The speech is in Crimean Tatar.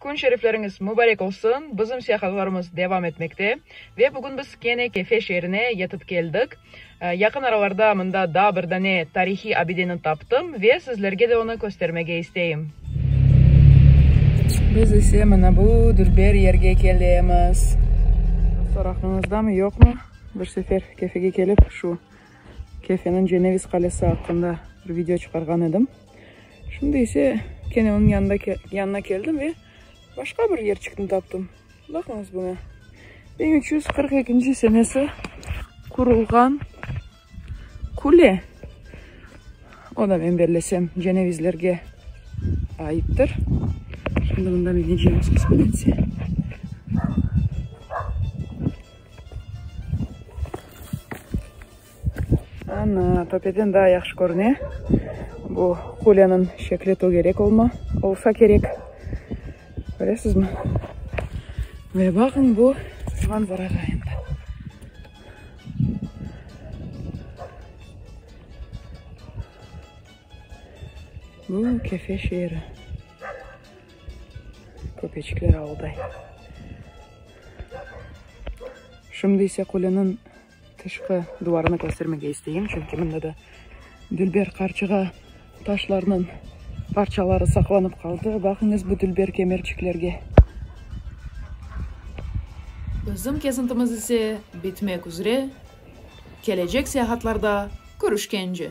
Kün şerifleriñiz mübarek olsun! Bizim siyahatlarımız devam etmekte ve bugün biz kene Kefe şeerine yetip keldik. Yaqın aralarda mında daa bir dane tarihiy abideni taptım ve sizlerge de onı köstermege isteyim. Biz ise mına bu dülber yerge kelemiz. Soraqnıñızdamı, yoqmı, bir sefer Kefege kelip şu Kefeniñ Ceneviz qalesi aqqında bir video çıqarğan edim. Şimdi ise kene onıñ yanında, yanına keldim ve başqa bir yerçikni taptım. Baqıñız buña. Biñ üç yüz qırq ekinci senesi qurulğan kule. O da men bellesem cenevizlerge aittir. Şimdi bundan ineceğiz kısmetse. Ana, Pöpeden daa yahşı körüne. Bu Kolyanıñ şekli tögerek olma, olsa kerek. Köresizmi? Ve baqıñ bu manzarağa endi. Bu Kefe şeeri. Köpeçikler avulday. Şimdi ise Kolyanıñ. Tışqı duvarını köstermege isteyim, çünki mında da dülber qarçığa taşlarnıñ parçaları saqlanıp qaldı. Baqıñız bu dülber kemerçiklerge. Bizim kezintimiz ise bitmek üzre, kelecek seyahatlarda körüşkence!